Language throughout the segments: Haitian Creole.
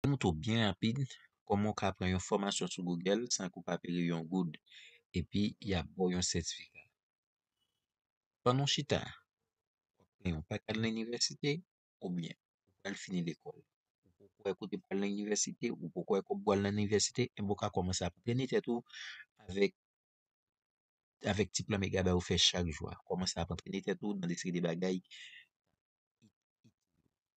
Timoun tou byen rapid kòman ou ka pran yon fòmasyon sou Google san ke ou pa peye yon goud epi yap baw yon sètifika. Pandan w chita wap pran yon pa k al nan inivèsite oubyen ou pral fini lekòl ou poko wè kote pou al nan inivèsite ou poko wè kòb pou al nan inivèsite enben ou ka kòmanse ap antrene tèt ou avèk avèk ti plan Megabay ou fè chak jou a. Kòmanse ap antrene tèt ou nan de seri de bagay.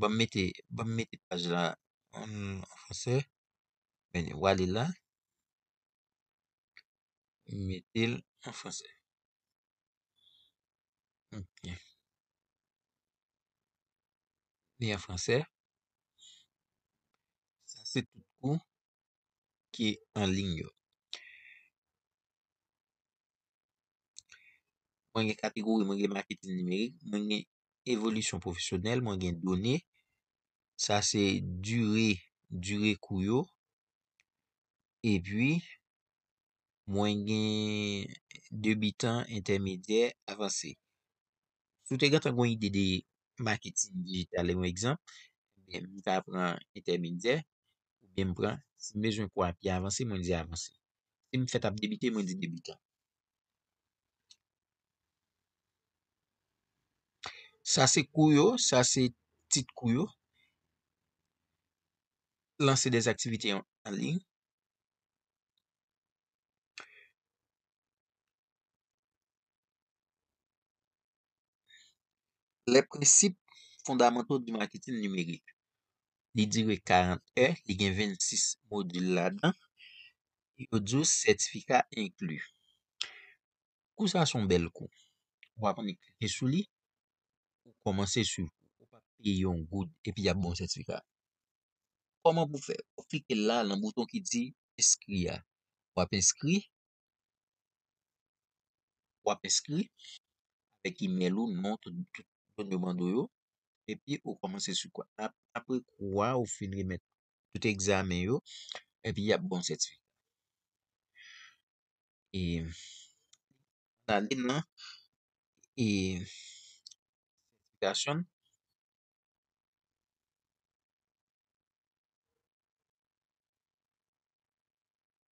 Banm mete banm mete paj la an fransè men ou ale la ou metel an fransè ok li an fransè sa se tout kou ki anlign yo mwen gen kategori mwen gen maketin nimerik mwen gen evolisyon pwofesyonèl mwen gen done sa se dire dire kou yo epi mwen gen debitan entèmedyè avanse si w te gentan gen ide de maketin dijital yon egzanp mwen ta pran entèmedyè oubyen m pran, si m bezwen kò a pi avanse, mwen di avanse. Si m fèt ap debite, mwen di debitan. Sa se kou yo, sa se tit kou yo. Lanse des aktivite an liy. Les principes fondamentaux du marketing numérique li dire 40 è, li gen 26 modil ladan, yo di ou sètifika enkli. Kou sa son bèl kou. Ou ap annik klike sou li, ou kòmanse sou ou pa peye yon goud epi y ap bon sètifika. Kòman pou fè? Ou klike la nan bouton ki di enskri a. Ou ap enskri, w ap enskri avèk imèl ou, non, tout done yo mande w yo, epi ou kòmanse sou kwa. Apre kou a, ou fin remèt tout egzamen yo, epi y ap ba w sètifika. E, nan ane nan, e, sètifikasyon,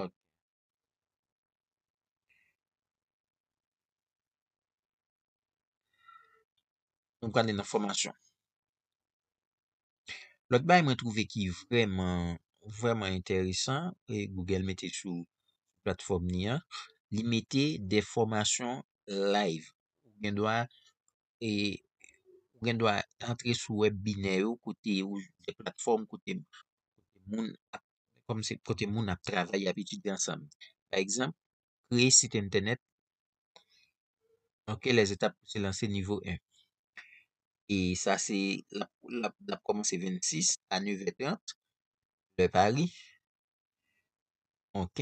Ok. Nou prale nan fòmasyon. Lòt bay mwen twouve ki vreman, vreman enteresan, e Google mete sou platfòm ni an, li mete de fòmasyon live. Ou gen dwa e ou gen dwa antre sou wèb binè yo kote ou gen platfòm kote moun ap kòmanse kote moun ap travay ap etidye ansanm. Pa egzanp, kreye sit entènèt, ok les étapes pou se lanse nivo 1. E sa se lap lap lap kòmanse 26 a 9 è 30 lè Paris. ok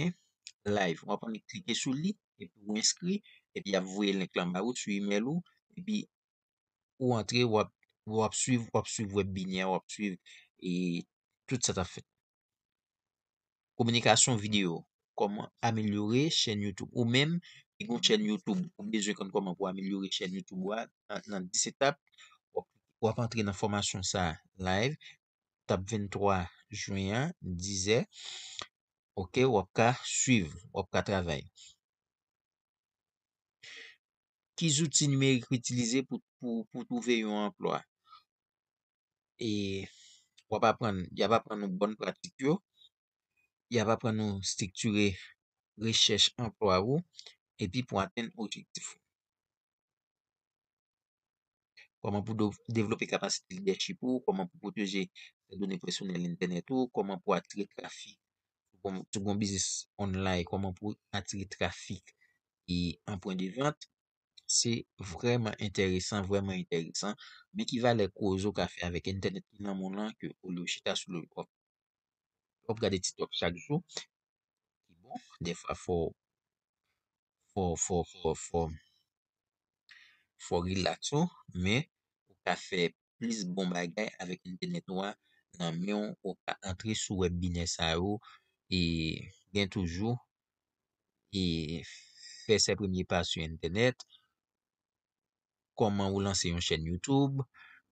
live wap annik klike sou li epi ou enskri epi yap voye link lan ba ou sou email ou epi ou antre wap wap swiv wap swiv wèb binè a wap swiv e tout sa tap fèt kominikasyon video kòman amelyore chèn youtube ou menm ki gon chèn youtube ou bezwen konn kòman pou amelyore chèn youtube ou a nan 10 etap wap antre nan fòmasyon sa live k ap vin 3 juin an dizè ok w ap ka swiv w ap ka travay. Ki zouti nimerik ou itilize pou pou twouve yon anplwa e w ap aprann y ap aprann ou bòn pratik yo y ap aprann ou estriktire rechèch anplwa ou epi pou atenn objektif ou. Kòman pou devlope kapasite lidèchip ou, kòman pou pwoteje done pèsonèl entènèt ou, kòman pou atire trafik. Sou bon biznis online, kòman pou atire trafik e an pwen de vant. Se vreman enteresan, vreman enteresan. Men ki valè koze ou ka fè avèk entènèt ki nan moun lan ke olye ou chita sou lòl kòp. Wap gade tiktok chak jou. ki bon defwa fò fò fò fò fò fò relax ou men ou ka fè plis bon bagay avèk entènèt ou a nan menw ou ka antre sou wèb binè sa yo e gen toujou e fè se premye pa sou entènèt kòman ou lanse yon chèn YouTube,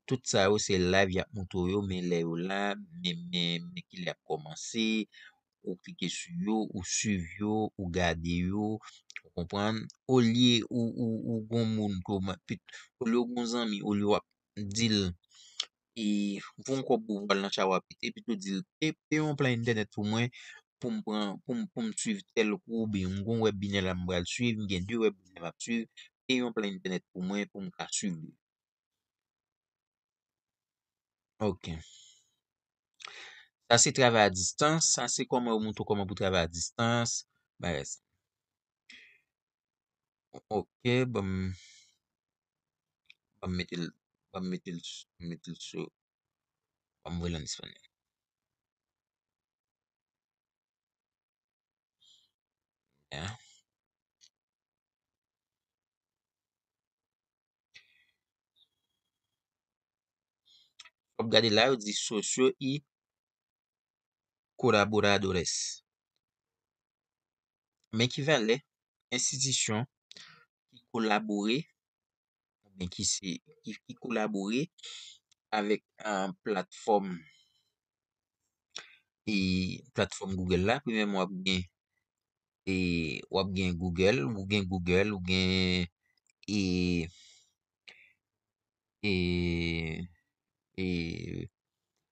tout sa yo se live yap montre w yo men lè yo la, men men kilè yap kòmanse, ou klike sou yo, ou swiv yo, ou gade yo, ou konprann, olye ou ou ou gon moun ke w man olye w gon zanmi, olye wap di l e voum kob pou vwal nan chawa pete epi tou dil pe yon plan entènèt pou mwen poum pran poum swiv tèl kou oubyen m gon wèbinè la m bal swiv m gen de wèbinè map swiv pe yon plan entènèt pou mwen poum ka swiv li ok sa se travay a distans sa se koman yo moutre w koman pou travay a distans bagay sa. Ok banm banm metel banm metel banm metel so banm voyel an español ya wap gade la yo di socio y colaboradores. Men ki valè enstitisyon ki kolabore oubyen ki se ki kolabore avèk platfòm e platfòm Google la. Premyèman w ap gen e w ap gen Google, ou gen Google, ou gen e e e.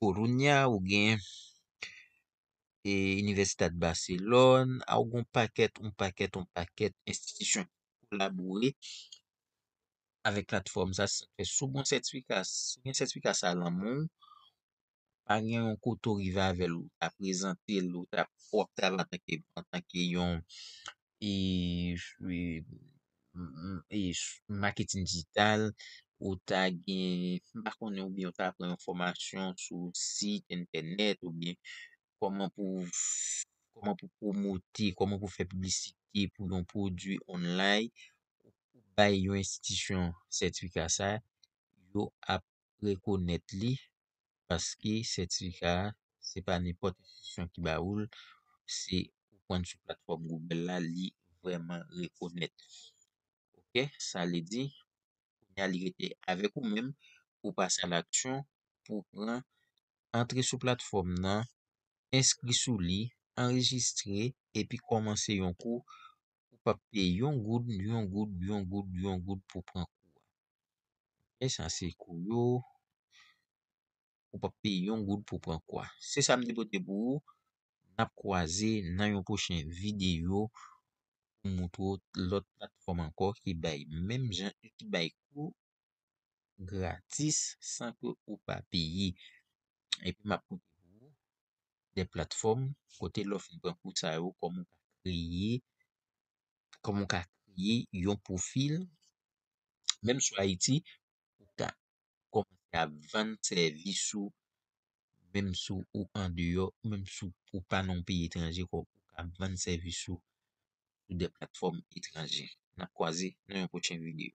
Kolonya, ou gen Universidad Barcelon, a ou gen yon pakèt, yon pakèt, yon pakèt enstitisyon ki kolabore avèk platfòm sa. Sa fè si w gen yon sètifika, si w gen sètifika sa a nan men w, pa gen yon kote ou rive avè l, ou ka prezante l, ou ka fè antanke yon. maketin dijital, ou ta gen, m pa konnen ou byen ou ta pran yon fòmasyon sou sit entènèt ou byen kòman pou kòman pou pwomote, kòman pou fè piblisite pou yon pwodui onlay, ou bay yon enstitisyon sètifika sa, yo ap rekonèt li. paske sètifika a se pa nenpòt enstitisyon ki ba ou l, se ou pran l sou platfòm Google la li vrèman rekonèt. Ok, sa vle di kounya li rete avèk ou menm pou pase a laksyon pou w pran antre sou platfòm nan, enskri sou li, anrejistre epi kòmanse yon kou ou pap peye yon goud, yon goud, yon goud, yon goud pou pran kou a. E sa se kou yo, ou pap peye yon goud pou pran kou a. Se sa m te pote pou ou, n ap kwaze nan yon pwochen videyo pou m montre w lòt platfòm ankò ki bay menm jan, ki bay kou. gratis san ke ou pa peye. Epi map pote pou ou de platfòm kote lè w fin pran kou sa yo kòman w ka kreye, kòman w ka kreye yon pwofil menm sou Ayiti pou w ka kòmanse ap vann sèvis ou menm si w andeyò, menm si w pa nan yon peyi etranje pou w ka vann sèvis ou sou de platfòm etranje. Nap kwaze nan yon pwochen videyo.